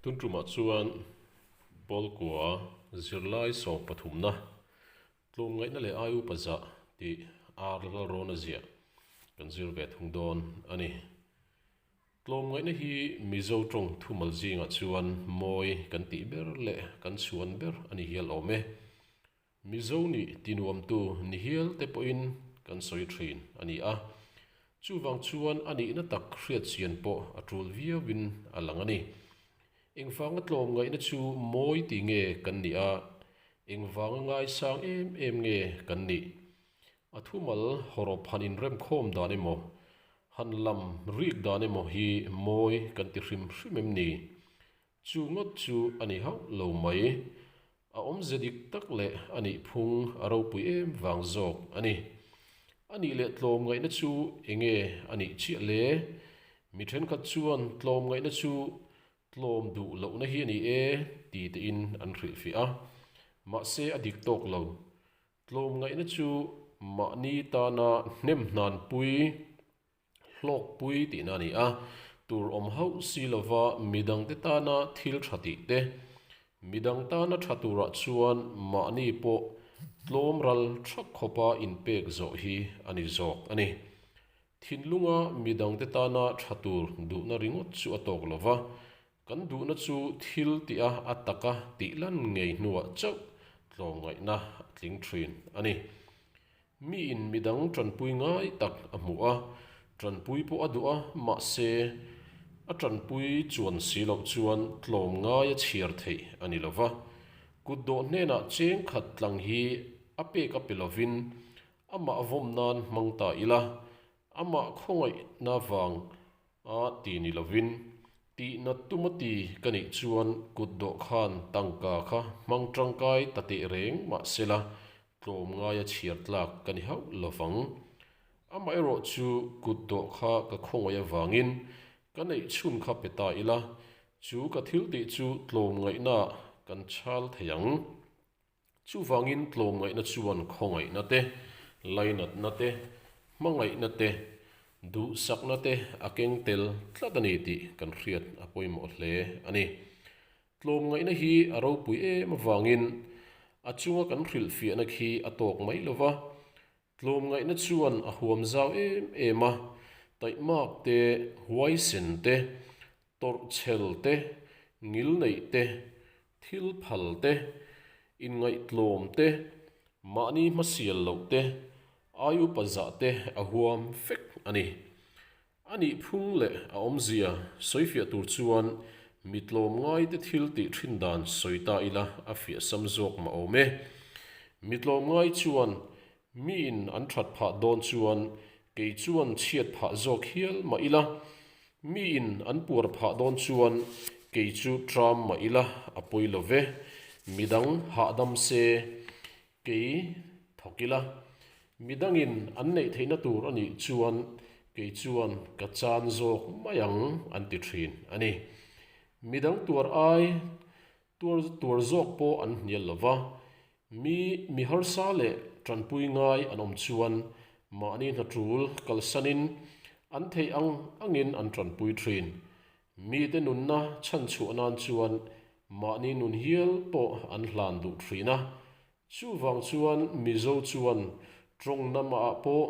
Tuntumah chuan Bawlkua zirlai sawm pathumna, tlum ngaihna leh ai upa zah tih ar lalrawnna ziah kan zir ve thung dawn a ni. Tlawm ngaihna hi Mizo tawng thumal zingah chuan mawi kan tih ber leh kan chuan ber a ni hial awm e. Mizo nih tinuamtu nihial te pawhin kan sawi thin a ni a, chuvang chuan a nihna tak hriatchian pawh a tul viauin a lang a ni. Engvanga tlawm ngaihna chu mawi ti nge kan nih a, engvanga ngaisang em em nge kan nih? A thumal hawrawp han inremkhawm dan emaw, han lam rik dan emaw hi mawi kan ti hrim hrim em ni? Chu ngawt chu a ni hauh lo mai. A awmze dik tak leh a nih phung a ropui em vang zawk a ni. A nih leh tlawm ngaihna chu eng nge a nih chiah le? Mi thenkhat chuan tlawm ngaihna chu tlawm duh lohna hi a ni e ti tein an hrilh fiah a. Mahse a dik tawk lo. Tlawm ngaihna chu mahni tana hnem hnanpui. hlawkpui tihna a ni a, tur awm hauh si lova midangte tana thil tha tih te. Midang tana tha turah chuan mahni pawh tlawmral tha khawpa inpek zawh hi a ni zawk a ni. Thinlunga midangte tana tha tur duhna ringawt chu a tawk lova, Kan duhna chu thil tih a a tak a tih lan ngei hnuah chauh tlawmngaihna a tling thin a ni. Miin midang tanpui ngai tak a hmu a, tanpui pawh a duh a, mahse, a tanpui chuan si loh chuan tlawm ngai a chhiar theih a ni lo va. Kut dawh hnenah cheng khat tlang hi a pek a pe lovin amah vawm nan hmang ta ila, amah khawngaihna vang A ti ni lovin, tihna tuma ti ka nih chuan kut dawhkhan tangka kha hmang tangkai ta teh reng mah sela tlawm ngaia chhiar tlak ka ni hauh lo vang. Amaherawh chu kut dawh kha ka khawngawih avangin ka neih chhun kha pe ta ila chu ka thil tih chu tlawm ngaihnaah kan chal thei ang. Chuvangin tlawmngaihna chuan khawngaihna te, lainatna te, hmangaihna te, duhsakna te a keng tel tlat a ni tih kan hriat a pawimawh hle a ni. Tlawmngaihna hi a ropui em avangin a chunga kan hrilhfiahna khi a tawk mai lo va, Tlawm ngaihna chuan a huam zau em em a, taihmak te, huaisen te, tawrh chhel te, ngil neih te, thil phal te, inngaihtlawm te, mahni hmasial loh te, ai upa zah te a huam fek a ni. A nih phung leh a awmzia sawi fiah tur chuan mitlawm ngaite thil tih thin dan sawi ta ila a fiah sam zawk mah awm e. Mitlawm ngai chuan mi in an that phah dawn chuan kei chuan chhiat phah zawk hial mah ila, mi in an puar phah dawn chuan kei chu ṭam mah ila a pawi lo ve. Midang hahdam se Kei thawk ila, midangin an neih theihna tur a nih chuan kei chuan ka chan zawk mai ang an ti thin a ni. Midang tuar ai tuar tuar zawk pawh an hnial lo va, mi mi harsa leh tanpui ngai an awm chuan mahni hnatul kalsanin an theih ang angin an tanpui thin. Mite nunna chhan chhuah nan chuan mahni nun hial pawh an hlan duh thin a. Chuvang chuan Mizo chuan tawngnam ah pawh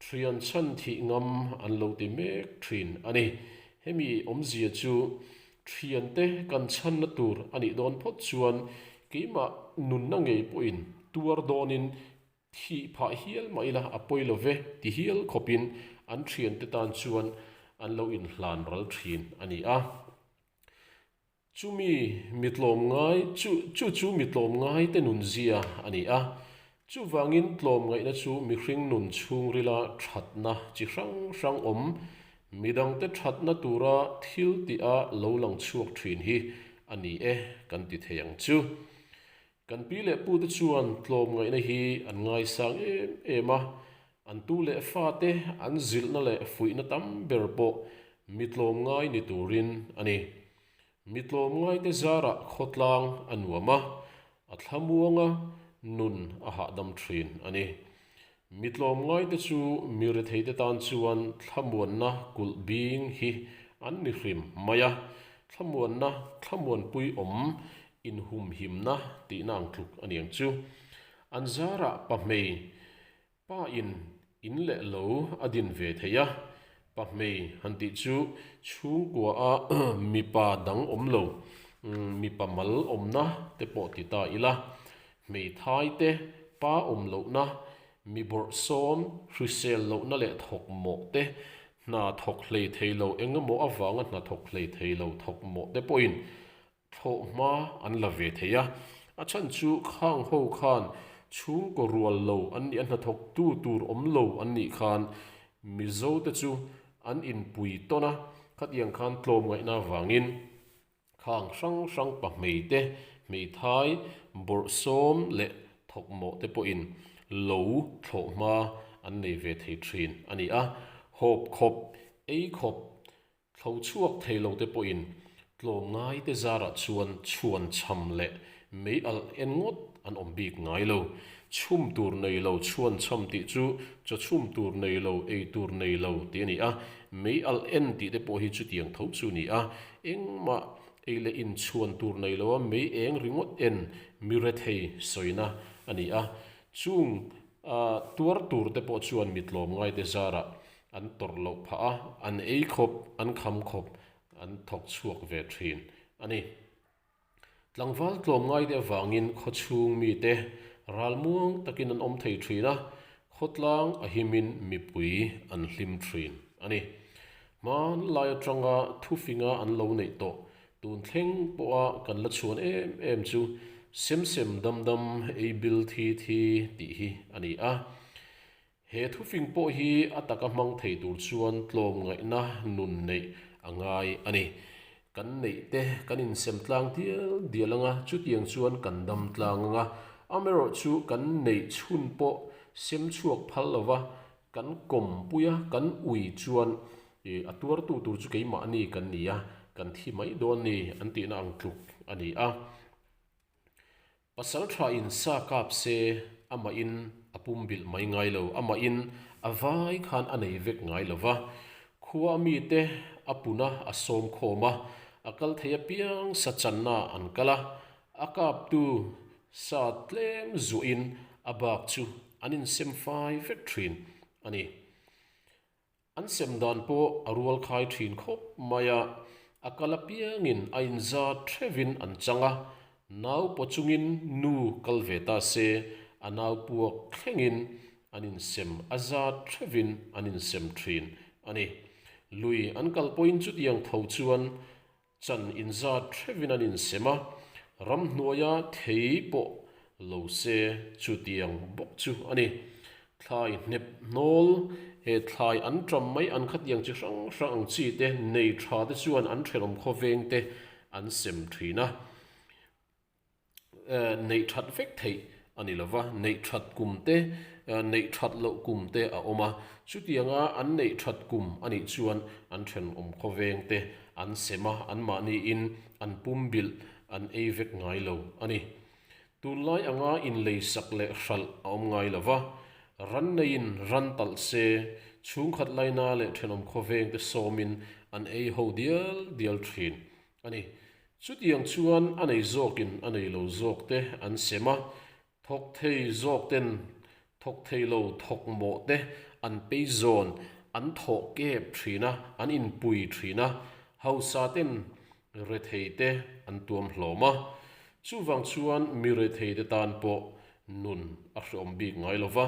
thian chhan thih ngam an lo ti mek thin a ni. Hemi awmzia chu thian te kan chhanna tur a nih dawn phawt chuan keimah nunna ngei pawhin tuar dawnin Thih phah hial mai la, a pawi love ti hial khawpin an thiante tan chuan an lo inhlan ral thin a ni a. Chumi mi tlawm ngai chu chu chu mi tlawm ngaite nun zia a ni a. Chuvangin tlawm ngaihna chu mihring nun chhungrila thatna chi hrang hrang awm. Midangte thatna tura thil tih a lo lang chhuak thin hi a ni e kan ti thei ang chu. Kan pi leh pu te chuan tlawm ngaihna hi an ngaisang em em a, an tu leh fa te an zilhna leh fuihna tam ber pawh mi tlawm ngai ni turin a ni. Mi tlawm ngaite zarah khawtlang a nuam a, a thlamuanga nun a hahdam thin a ni. Mi tlawm ngaite chu mi retheite tan chuan thlamuanna kulh bing hi an ni hrim mai a, thlamuanna, thlamuanpui awm, inhumhimna tihna ang tluk a ni ang chu. An zarah pa hmei pain in leh lo a din ve thei a, Pa hmei han tih chu chhungkua a mipa dang awm lo, mipa mal awmna te pawh ti ta ila, hmeithai te pa awm lohna, mi bawrhsawm hrisel lohna leh thawkmawh te, hna thawk hleithei lo engemaw avanga hna thawk hleithei lo thawkmawh te pawhin thlawh hma an la ve thei a, a chhan chu khang ho khan chhungkaw rual lo an nih a hnathawktu tur awm lo an nih khan Mizo te chu an inpui tawn a, khatiang khan tlawm ngaihna avangin khang hrang hrang pa hmei te, hmeithai, bawrhsawm leh thawkmawh te pawhin lo thlawh hma an nei ve thei thin a ni a, hawp khawp, ei khawp, Thlo chhuak thei lo te pawhin tlawm ngai te zarah chuan chhuan chham leh mei alh en ngawt an awm bik ngai lo. Chhum tur nei lo chhuan chham tih chu chaw chhum tur nei lo, ei tur nei lo tih a ni a, mei alh en tih te pawh hi chutiang tho chu a ni a. Engmah ei leh in chhuan tur nei lo a, mei eng ringawt en mi rethei sawina a ni a. Chung tuar tur te pawh chuan mi tlawm ngai te zarah An tawrh loh phah a, an ei khawp, an kham khawp, an thawk chhuak ve thin a ni. Tlangval tlawm ngai te avangin khaw chhung mite ral muang takin an awm thei thin a, khawtlang a himin mipui an hlim thin a ni. Hmanlai atanga thu finga an lo neih tawh tun thleng pawha kan la chhuan em em chu sem sem dam dam ei bil thi thi tih hi a ni a. He thufing pawh hi a taka hmang thei tur chuan tlawm ngaihna nun neih a ngai a ni. Kan neih te kan insem tlang dial dial ang a, chutiang chuan kan dam tlang ang a. Amaerawh chu kan neih chhun pawh sem chhuak phal lo va, kan kawm pui a, kan ui chuan ih a tuartu tur chu keimahni kan ni a, kan thi mai dawn ni an tihna ang tluk a ni a. Pasalṭha in sa kap se amahin a pum bilh mai ngai lo, amahin a vai khan a nei vek ngai lo va. Khua mite a puna a sawm khawm a, a kal thei apiang sa channaah an kal a, a kaptu sa tlem zuahin a bak chu an insem fai vek ṭhin a ni. An sem dan pawh a rual khai thin khawp mai a, a kal apiangin a inzar thevin an chang a, nau paw chungin nu kal ve ta se, a nau puak thlengin an insem a zar thevin an insem thin a ni. Lui an kal pawhin chutiang tho chuan Chan in zat thevin an in sem a, ram hnuaia thei pawh lo se chutiang bawk chu a ni. Thlai hnep hnawl, he thlai an ṭam mai an khatiang chi hrang hrang ang chi te nei ṭha te chuan an ṭhelawm khawveng te an sem ṭhin a. neih that vek theih a ni lo va, neih that kum te, neih that loh kum te a awm a. Chutiang a an neih that kum a nih chuan an thenawm khawveng te an sem a, anmahniin an pum bilh an ei vek ngai lo a ni. Tunlai anga inleisak leh hralh a awm ngai lo va, ranneiin ran talh se, chhungkhat laina leh thenawm khawveng te sawmin an ei ho dial dial thin a ni. Chutiang chuan a nei zawkin a nei lo zawk te an sem a, thawk thei zawk ten thawk thei lo thawk mawh te an pei zawn, an thawh kep thin a, an inpui thin a, hausa ten rethei te an tuam hlawm a. Chuvang chuan mi rethei te tan pawh nun a hreawm bik ngai lo va,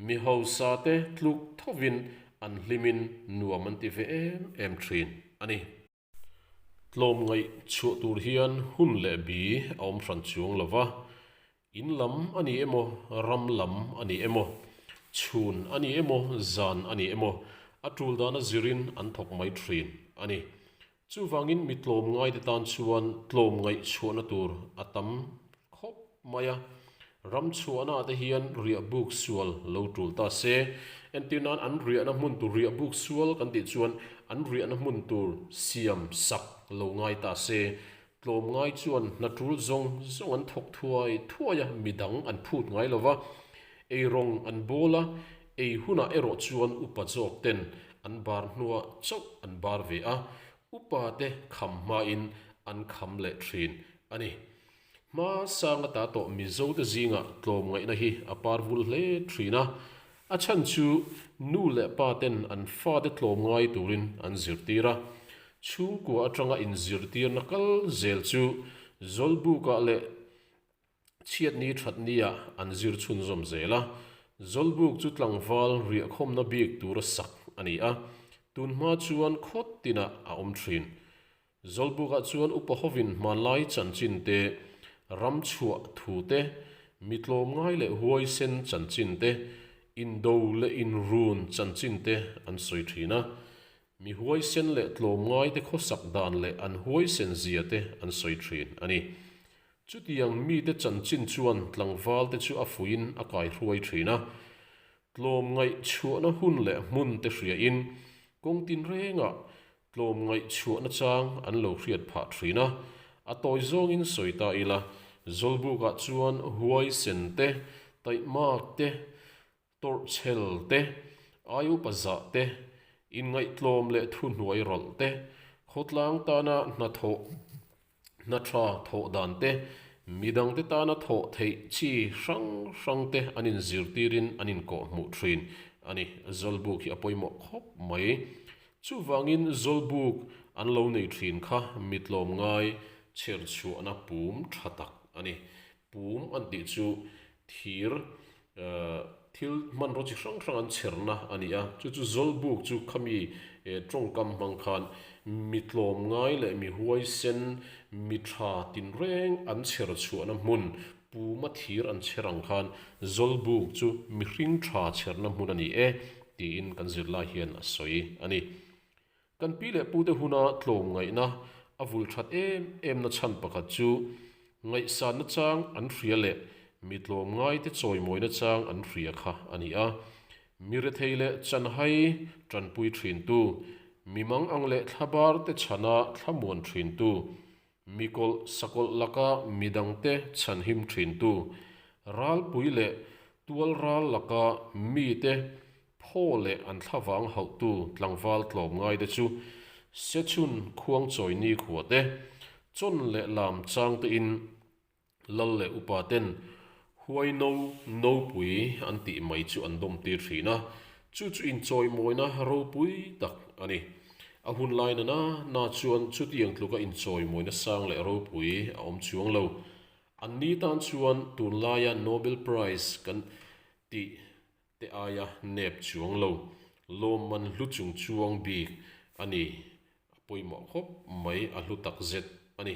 mi hausa te tluk tho vin an hlim in nuam an ti ve em em thin a ni. Tlawm ngaih chhuah tur hian hun leh bi a awm hran chuang lo va, in lam a ni emaw, ram lam a ni emaw, chhun a ni emaw, zan a ni emaw, a tul dana zirin an thawk mai thin a ni. Chuvangin mi tlawm ngaite tan chuan tlawm ngaih chhuahna tur a tam khawp mai a, Ram chhuahna te hian riah buk sual lo tul ta se. Entir nan an riahna hmun tur riah buk sual kan tih chuan an riahna hmun tur siam sak lo ngai ta se. Tlawm ngai chuan hna tul zawng zawng an thawk thuai thuai a, mi dang an phut ngai lo va, ei rawng an bawl a, ei hunah erawh chuan upa zawk ten an bar hnua chauh an bar ve a, upa te kham hmain an kham leh thin a ni. Hma sanga ta tawh Mizote zingah tlawm ngaihna hi a par vul hle thin a, a chhan chu nu leh pa ten an fate tlawm ngai turin an zirtir a. Chhungkua atanga inzirtirna kal zel chu Zawlbukah leh Chhiatni thatnia an zir chhunzawm zel a. Zawlbuk chu tlangval riahkhawmna bik tura sak a ni a, tunhma chuan khawt tinah a awm thin. Zawlbukah chuan upa hovin hmanlai chanchin te, ram chhuah thu te, mi tlawm ngai leh huai sen chanchin te, indo leh inrun chanchin te an sawi thin a. Mi huai sen leh tlawm ngai te khawsak dan leh an huai sen zia te an sawi thin a ni. Chutiang mite chanchin chuan tlangval te chu a fuiin a kai hruai thin a. Tlawm ngaih chhuahna hun leh hmun te hria in kawng tin rengah Tlawm ngaihchhuahna chang an lo hriat phah thin a, a tawi zawngin sawi ta ila, Zawlbukah chuan Huaisen te, Taihmak te, Tawrhchhel te, Ayupazah te, Inngaihtlawm leh Thuhnuai rawlh te, Khawtlang tana Hnathawh, Hnaṭha thawh dan te, midang te tana thawh theih chi hrang hrang te an in zirtir in an in kawh hmuh ṭhin a ni. Zawlbuk hi a pawimawh khawp mai. Chuvangin zawlbuk an lo nei ṭhin kha mitlawm ngai chherchhuahna pum ṭha tak a ni. Pum an tih chu thir thil hmanraw chi hrang hrang an chherna a ni a. Chu chu Zawlbuk chu khami tawngkam hmang khan mi tlawm ngai leh mi huaisen, mi tha tinreng an chher chhuahna hmun Puma thir an chher ang khan Zawlbuk chu mihring tha chherna hmun a ni e, tiin kan zirlai hian a sawi a ni. Kan pi leh pute huna tlawm ngaihna a vul that em emna chhan pakhat chu ngaihsanna chang an hria leh mi tlawm ngaite chawimawina chang an hria kha a ni a. Mi rethei leh chanhai tanpui thintu, mi mang ang leh thla barte chhana thlamuan thintu, Mi kawlh sakawlh laka midang te chhan him thin tu, ralpui leh tual ral laka mi te phaw leh an thla vang hauh tu tlangval tlawm ngai te chu Sechun khuang chawi nikhua te, chawn leh lam chang te in, Lal leh upa ten huai no no pui an tih mai chu an dawm tir thin a, chu chu in chawi mawina ropui tak a ni. A hun lai nana na chuan chutiang tluka in chawi mawina sang leh ropui a awm chuang lo. An ni tan chuan tun laia Nobel Prize kan tih te aia nep chuang lo. Lawm man hlu chung chuang bik a ni, a pawimawh khawp mai a hlu tak zet a ni.